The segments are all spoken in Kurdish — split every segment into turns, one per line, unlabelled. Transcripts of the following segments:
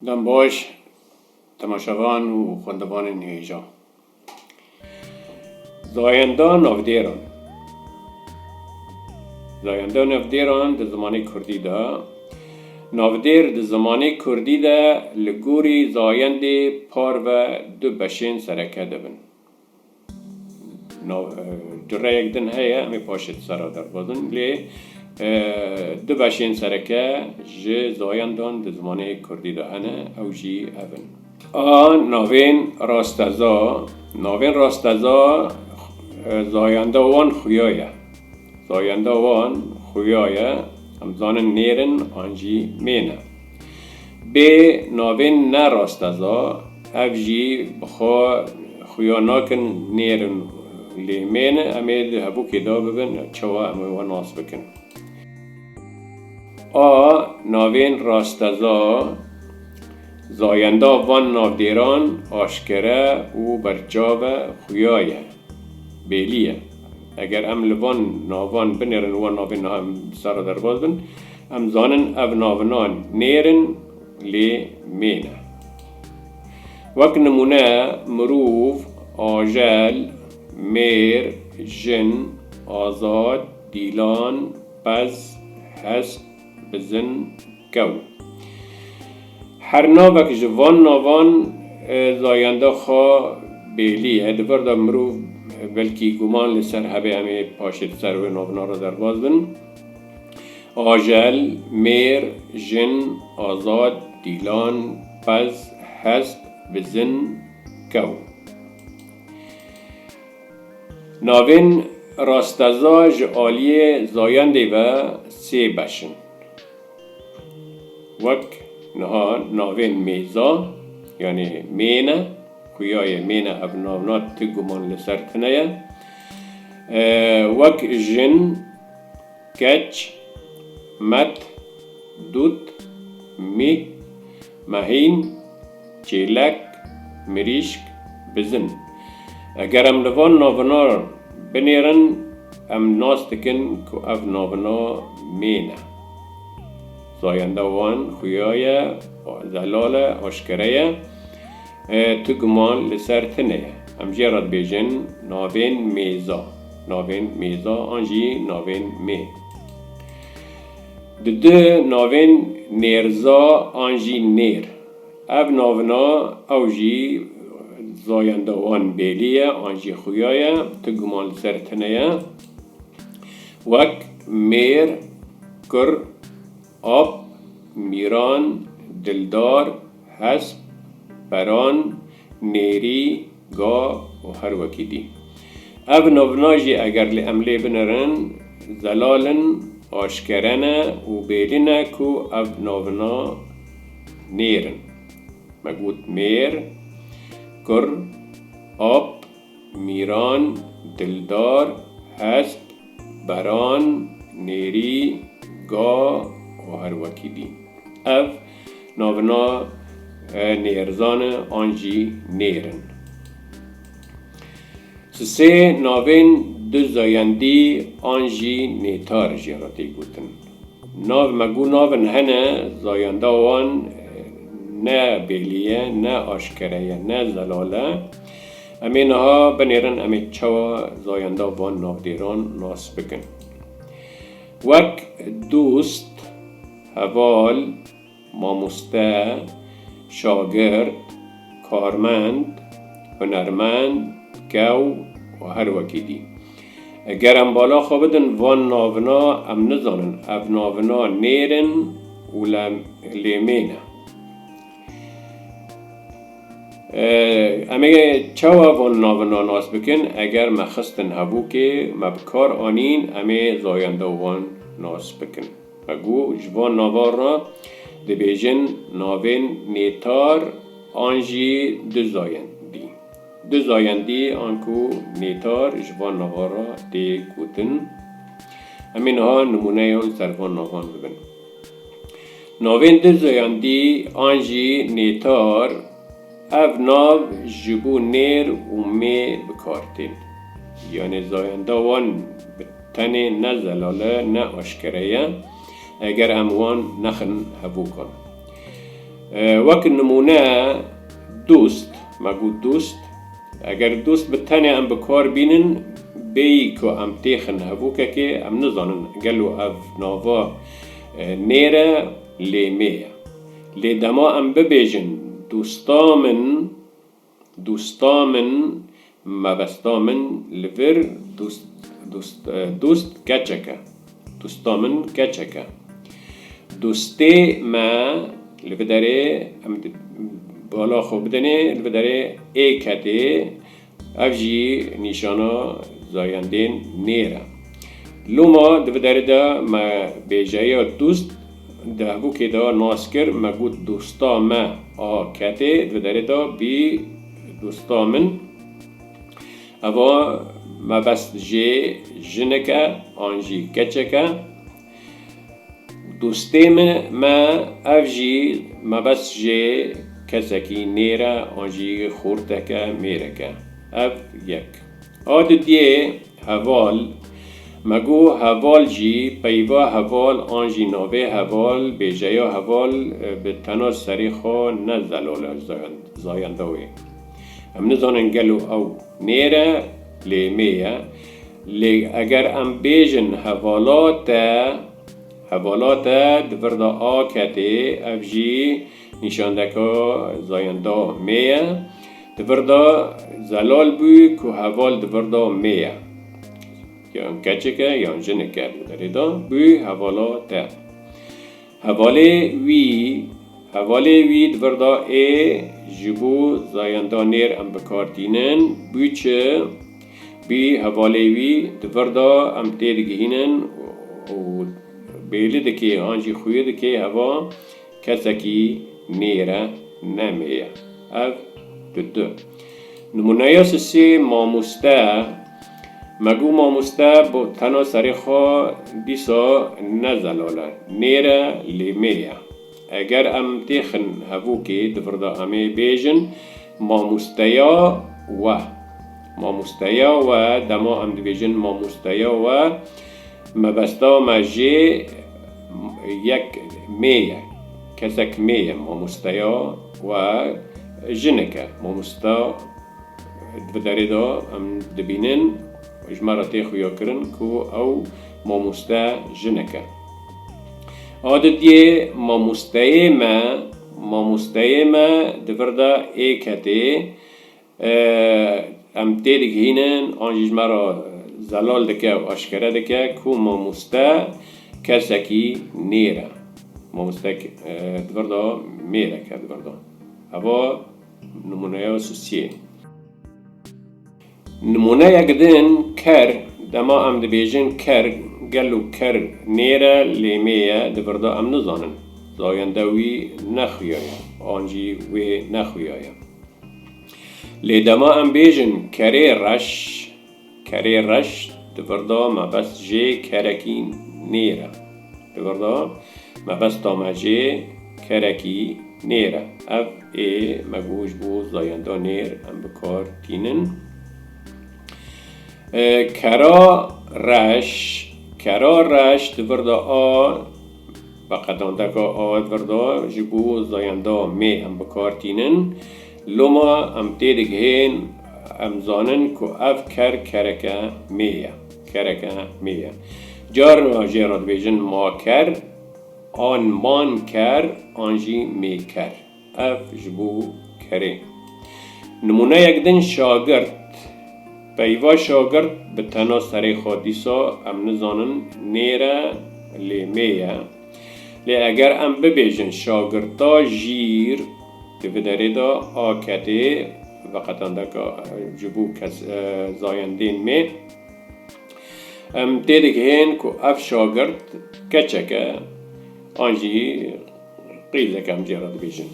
Dem baş temaşevan û xwendevanên hêjan. Zayenda navdêran Zayenda navdêran di zimanê kurdî de Navdêr di zimanê kurdî de li gorî zayendê parve du beşên sereke de bin. Tu reyek din heye em ê paşê di ser re derbazin lê du beşên sereke ji zayan dan di zimanê kurdî de hene ew jî ev in. A navên rasteza, navên rasteza zayanda wan xuya ye. Zayanda wan xuya ye, em dizanin nêr in an jî mêr ne. Bê navên ne rasteza, ev jî bi xwe xuya nakin nêr in lê mêr in, em ê di hevokê de bibin çawa em ê we nas bikin. A navên rasteza, zayenda van navdêran aşkere û berçav e, xuya ye, bêlî ye. Eger em li van navan binêrin û van navên niha em li ser re derbas bin, Em zanin ev navina nêr in lê mê ne. Wek nimûne mirov, ajel, mêr, jin, azad, dîlan, pez, hest, bizin, kew. Her navek ji van navan zayenda xwe bêlî ye. Di vir de mirov belkî guman li ser hebe em ê paşê di ser wê navina re derbas bin. Ajel, mêr, jin, azad, dîlan, qez, hest, bizin, kew. Navên rasteza ji aliyê zayendê ve sê beş in. Wek niha navên mêza yanê mêne, xuyayê mêne ev navna ti guman li ser tune ye. wek jin, keç, met, dût, mî, mehîn, çêlek, mirîşk, bizin. Eger em li van navina binêrin em nas dikin ku ev navina mên e. Zayenda wan xuya ye, zelal e, aşkere ye. Ti guman li ser tine ye. Em jê re dibêjin navên mêza, navên mêza an jî navên mê. Di di navên nêrza an jî nêr. Ev navina ew jî zayenda wan bêlî ye an jî xuya ye, ti guman li ser tine ye. Wek mêr, kur. Ap, Mîran, Dildar, Hesp, Peran, Nêrî, Ga û her wekî dî. Ev navna jî eger li em lê binerin, zelal in, aşkere ne û bêdî ne ku ev navna nêr in. Me got mêr, kur, ap, Mîran, Dildar, Hesp, Beran, Nêrî, Ga û her wekî dî. Ev navina nêrzan e an jî nêr in. Ji sê navên du zayendî an jî nêtar jê re tê gotin. Nav me ku navin hene zayenda wan ne bêlî ye, ne aşkere ye, ne zelal e. Em ê niha binêrin, em ê çawa zayenda van navdêran nas bikin. Wek dost, heval, mamoste, şagird, karmend, hunermend, kew û her wekî dî. Eger em bala xwe bidin van navina em nizanin ev navina nêr in û lê mêne. Em ê çawa van navina nas bikin? Eger me xistin hevokê, me bi kar anîn, em ê zayenda wan nas bikin. Me got ji van navan re dibêjin navên nêtar an jî du zayendî. Du zayendî an ku nêtar ji van navan re tê gotin. Em ê niha nimûneyan ser van navan bibin. Navên Dirzoyan dî an jî Nêtar, ev nav ji bo nêr û mê bi kar tên. Yanê zayenda wan bi tenê ne zelal e ne aşkere ye eger em wan nexin hevokan. Wek nimûne dost, me got dost, eger dost bi tenê em bi kar bînin bêyî ku em têxin hevokekê em nizanin gelo ev nava, Mêr e lê mê ye. Lê dema em bibêjin dosta min, dosta min, mebesta min li vir dost, dost, dost keçek e, dosta min keçek e. Dostê me li vê derê em bala xwe bidinê, li vê derê ê ketê. Ev jî nîşana zayendên mêr e. Loma di vê derê de me bêjeya dûst di hevokê de nas kir, me got dosta me a ketê di vê derê de bî dosta min. Eva mebest jê jinik e an jî keçek e. Dostê me me ev jî mebest jê kesekî nêr e an jî xorteke mêreke ev yek a di diyê heval me got heval jî peyva heval an jî navê heval bêjeya heval bi tena serê xwe ne zelal e zayenda wê em nizanin gelo ew nêr e lê mêr e Lê eger em bêjin hevalat e, hevalat e di vir de a ketê, ev jî nîşandeka zayenda mê ye. Di vir de zelal bû ku heval di vir de mê ye. Yan keçik e yan jinik e di derê de bû hevala te. Hevalê wî, hevalê wî di vir de ê ji bo zayenda nêr em bikar tînin, bû çi? Bi hevalê wî di vir de em têdigihînin û bêli dike an jî xuya dike heva kesekî mêr e ne mê ye. Ev di du nimûneya sisê mamoste ye. Me got mamoste tena serê xwe dîsa ne zelal e, nêr e lê mê ye. Eger em têxin hevokê di vir de em ê bêjin mamosteya we. Mamosteya we dema em dibêjin mamosteya we mebesta me jê yek mê ye. Kesek mê ye mamosteya we jinik e. Mamosta di vir derê de em dibînin ji me re tê xuyakirin ku ew mamoste jinik e. Adetiyê mamosteyê me, mamosteyê me di vir de ê ketê, em tê digihînin an jî ji me re zelal dike û eşkere dike ku mamoste kesekî nêr e. Mamoste di vir de mêrek e di vir de. Heva nimûneya Sosiyê. Nimûneyek din ker, dema em dibêjin ker, gelo ker nêr e, lêmê ye, di birda em nizanin zayende wî ne xuya ye an jî wê ne xuya ye. Lê dema em bêjin kerê reş, kerê reş di birda mebest jê kerekî nêr e. Li vir de mebesta me jê kerekî nêr e. Ev ê me goh ji bo zayenda nêr em bi kar tînin. Kera reş, kera reş di vir de a, beqedandeka a di vir de ji bo zayenda mê em bi kar tînin. Loma em tê digihên, em zanin ku ev ker kereke mê ye. Kereke mî ye. Carin a jê re dibêjin ma ker an man ker an jî mî ker. Ev ji bo kerê. Nimûneyek din şagirt. Peyva şagirt bi tena serê xwe dîsa em nizanin nêr e lê mê ye. Lê eger em bibêjin şagirta jîr di vi derê de a ketê veqetandeka ji bo zayendên me em têdigihên ku ev şagirt keçek e an jî qîzek em jê re dibêjin.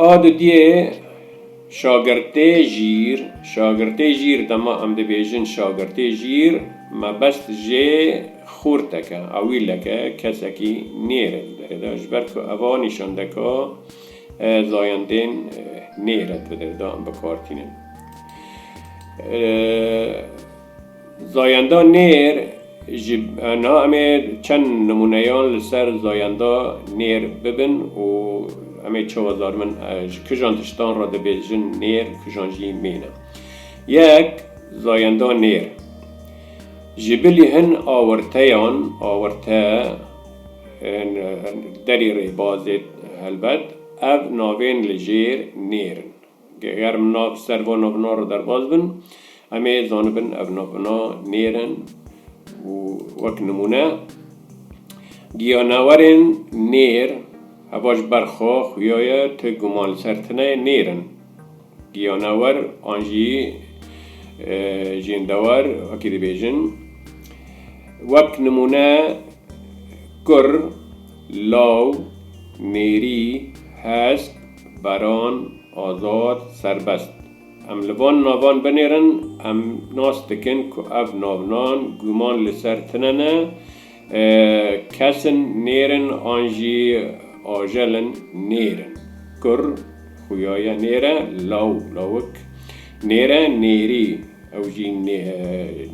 A didiyê. Şagirtê jîr, Şagirtê jîr dema em dibêjin şagirtê jîr, mebest jê xûrteke, awîleke, kesekî nêr e di derê de. Ji ber ku eva nîşandeka zayendên nêr e di derê de em bikar tînin. Zayenda nêr ji na em ê çend nimûneyan li ser zayenda nêr bibin û em ê çawa zarmin ji kijan tiştan re dibêjin nêr kijan jî mîne. Yek, Zayenda nêr ji bilî hin awirteyan, awirte ên derî rêbazê helbet, ev navên li jêr nêr in. Geger mina bi ser vana vina re derbas bin, em ê zanibin ev navina nêr in û wek nimûne, Gîyanewerên nêr, heva ji ber xwe xuya ye tu guman li ser tune nêr in. Gîyanewer an jî jêndewer wekî dibêjin. Wek nimûne, kur, law, nêrî, hesp. Baran, Azad, Serbest. Em li van navan binêrin, em nas dikin ku ev navnan guman li ser tine ne, kes in nêrin an jî ajel in nêrin, kur, xuya ye nêre, law, lawik, nêre, nêrî, ew jî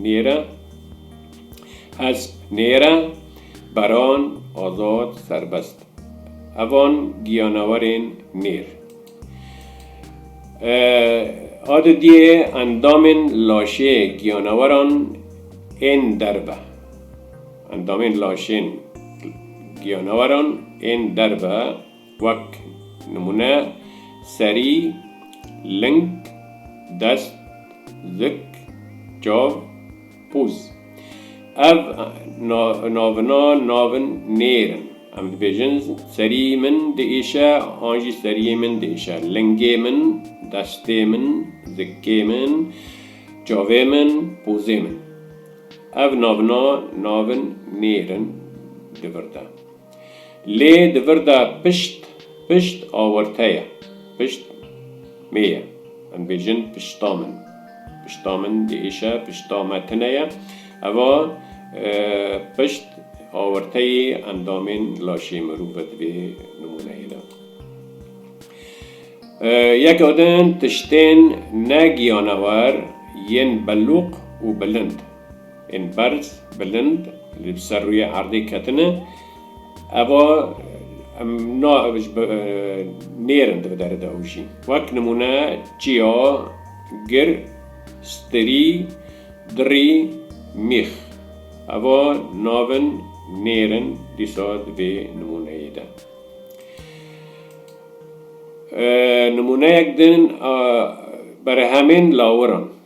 nêre, hesp, nêre, baran, azad, serbest. Hevan giyanawerên nêr a di diyê endamên laşê giyanaweran ên der be. Endamên laşên giyanaweran ên der be wek nimûne serî, ling, dest, zik, çav, Pûz, Ev navina navin nêr in. Em dibêjin serî min diêşe an jî seriyê min diêşe, lingê min, destê min, zikê min, çavê min, pûzê min. Ev navina navin nêr in di vir de. Lê di vir de pişt, pişt awirte ye. Pişt mê ye. Em dibêjin pişta min. Pişta min di êşe, pişta me tune ye. Eva pişt awirteyê endamên laşê mirov e di vê nimûneyê de. Yek adin tiştên ne giyanewer yên belûq û bilind. Ên berz, bilind li bi ser rûyê erdê ketine. Eva em na ji bi nêrin di bi derê de hûjî. Wek nimûne çiya, gir, stirî, dirî, mîx. Eva nav in nêrin dîsa di vê nimûneyê de. Nimûneyek din a berehemên lawiran.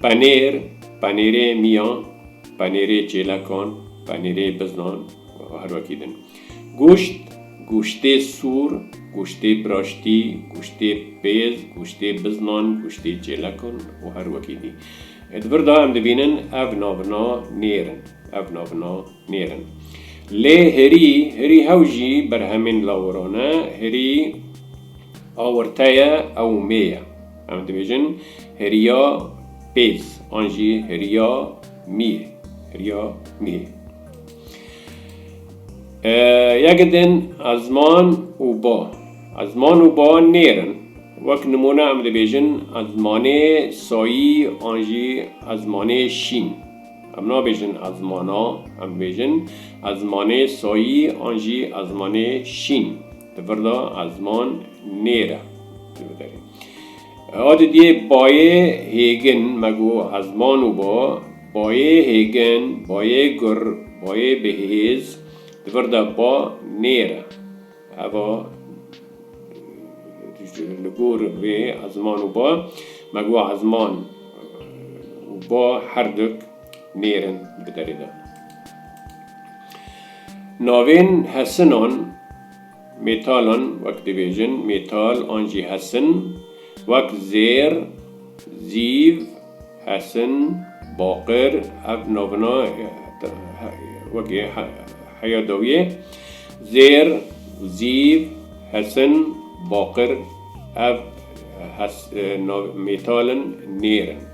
Penêr, penêrê miyan, penêrê çêlekan, penêrê biznan û her wekî din. Goşt, goştê sor, goştê biraştî, goştê pêz, goştê biznan, goştê çêlekan û her wekî dî. Di vir de em dibînin ev navina nêr in. Ev navina nêr in. Lê hirî, hirî hew jî berhemên lawiran e. Hirî awirte ye ew mê ye. Em dibêjin heriya pêz an jî heriya mîh. Heriya mîh. Yek din ezman û ba. Ezman û ba nêrin. Wek nimûne em dibêjin ezmanê sayî an jî ezmanê şîn. Em nabêjin ezmana, em dibêjin ezmanê sayî an jî ezmanê şîn. Di vir de ezman nêr e. Adi diyê bayê hêgin me go ezman û bo, bayê hêgin, bayê gur, bayê bêhêz, di vir de ba nêr e. Heva li gor vê ezman û ba me go ezman û ba her duk. mêrin biderînin. Navên hesinan, metalan, wek dibêjin mêtal an jî hesin, wek zêr, zîv, hesin, baqir, ev navina wekî heya dawiyê, zêr, zîv, hesin, baqir, ev metal in, mêr in.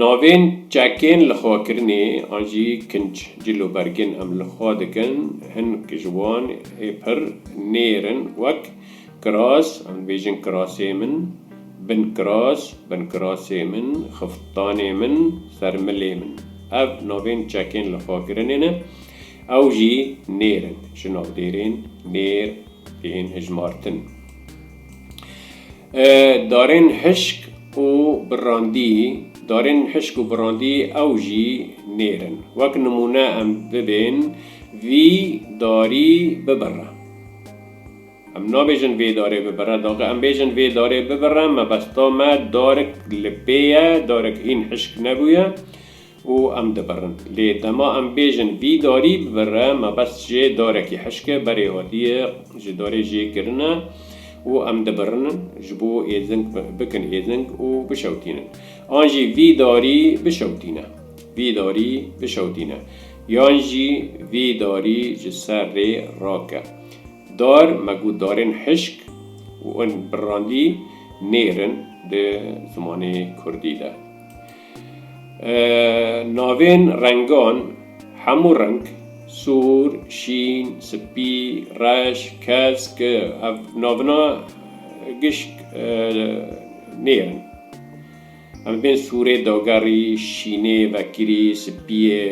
Navên çekên lixwekirinê an jî kinc cilûbergên em li xwe dikin, hin ji wan ê pir nêr in wek, kiras, em dibêjin kirasê min, binkiras, binkirasê min, xiftanê min, sermilê min. Ev navên çekên lixwekirinê ne, ew jî nêr in, ji navdêrên nêr tên hijmartin. Darên hişk û birandî, darên hişk û birandî ew jî nêr in. Wek nimûne em bibên vî darî bibire. Em nabêjin vê darê bibire, daxê em bêjin vê darê bibire mebesta me darik li pê ye, darik hîn hişk nebûye. û em dibirin. Lê dema em bêjin vî darî bibire mebest jê darekî hişk e, berê hatîye ji darê jê kirine û em dibirinin ji bo êzing bikin êzing û bişewtînin. An jî vî darî bişewtîne. Vî darî bişewtîne. Yan jî vî darî ji ser rê rake. Dar, me got darên hişk û in birrandî nêr in di zimanê kurdî de. Navên rengan hemû reng, sor, şîn, spî, reş, kesk, ev navina gişk nêrin. Em bên sorê dagerî, şînê vekirî, spîyê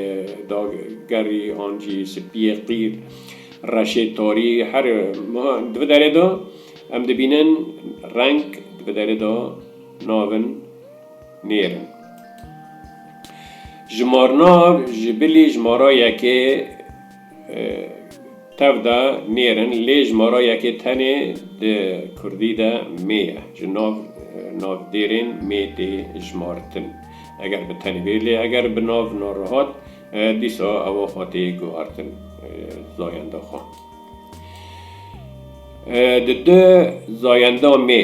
dagerî an jî spîyê qîr, reşê tarî her wiha di vê derê de em dibînin reng di vê derê de navin. nêr in. Ji marna ji bilî ji mara yekê tev de nêr in lê ji mara yekê tenê di kurdî de mê ye. Ji nav navdêrên mê tê jimartin. Eger bi tenê bê lê eger bi nav narihat dîsa ewa xwe tê guhartin zayenda xwe. Di du zayenda mê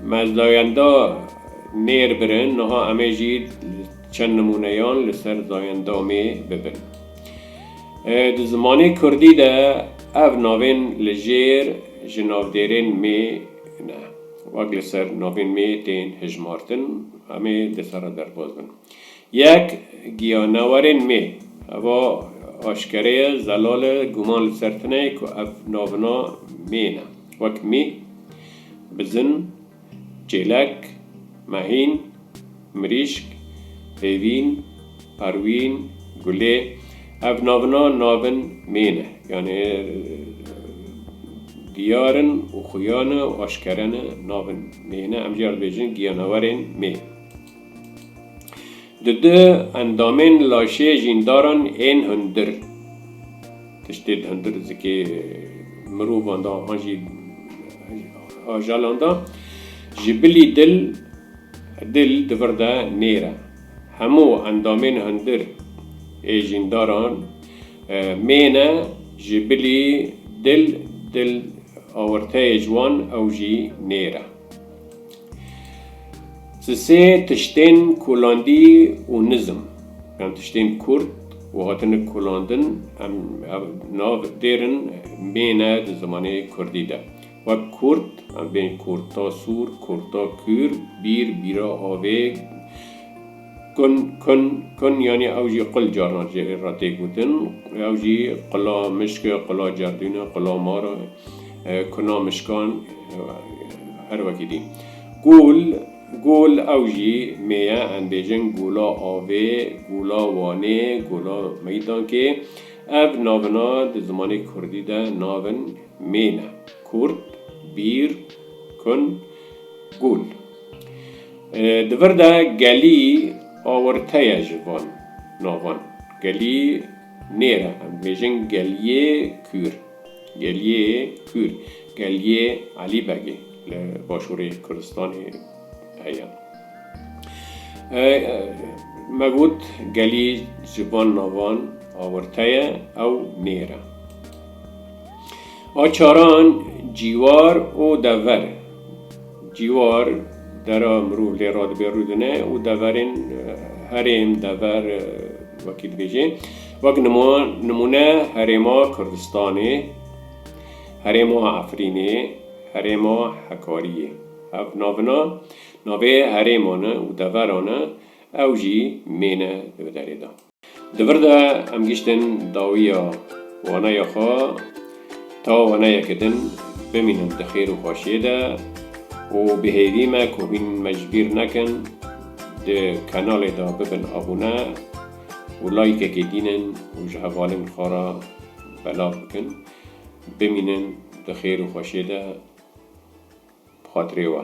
me zayenda nêr birin, niha em ê jî çend nimûneyan li ser zayenda mê bibin. Di zimanê kurdî de ev navên li jêr ji navdêrên mê ne, wek li ser navên mê tên hijmartin, em ê li ser re derbas bin. Yek, Giyanawarên mê. Heva aşkere ye, zelal e, guman li ser tune ye ku ev navina mêyên e, wek mî, bizin, çêlek, mehîn, mirîşk, hêvîn, perwîn, gulê, ev navina navin mêyên e, yanê diyar in û xuya ne û aşkere ne, navin mêyên e, em jî ya dibêjin giyanawarên mê. Di du endamên laşê jîndaran ên hundir, tiştê di hundir zikê mirovan de an jî ajalan de, ji bilî dil, dil di vir de nêr e. Hemû endamên hundir ê jîndaran mêne ji bilî dil, dil awirteyê ji wan ew jî nêr e. Ji sê tiştên kulandî û nizm yan tiştên kurt û hatine kulandin em ev nav dêrin mêne di zimanê kurdî de wek kurt em bên kurta sûr, kurta kûr, bîr, bîra avê, Kun, Kun, Kun yanî ew jî qul caran ji ê re tê gotin. Ew jî qula mişk e, qula cerdûn e, qula mar e, kuna mişkan her wekî dî. Gul, Gul ew jî mê ye em bêjin gula avê, gula wanê, gula meydankê. Ev navina di zimanê kurdî de navin mê ne. Kurd, Bîr, Kun, Gul. Di vir de gelî awirte ye ji van navan. Gelî nêr e. Em dibêjin geliyê kûr. Geliyê kûr. Geliyê Elî Begê li başûrê Kurdistanê heye. Me got gelî ji van navan awirte ye ew nêr e. A çaran cîwar û dever. Cîwar, dera mirov lê re dibe rûdine û deverên herêm, dever wekî dibêje. Wek nimûne herêma Kurdistanê, herêma Efrînê, herêma Hekariyê. Ev navina navê herêman e û deveran e, ew jî mêne di bi derê de. Di vir de em giştin dawiya waneya xwe ta waneyeke din bimînin di xêr û xweşiyê de û bi hêvî me ku hîn me ji bîr nekin di kanalê de bibin abûne û layîkekê dînin û ji hevalên xwe re belav bikin. Bimînin di xêr û xweşiyê de bi xatirê we.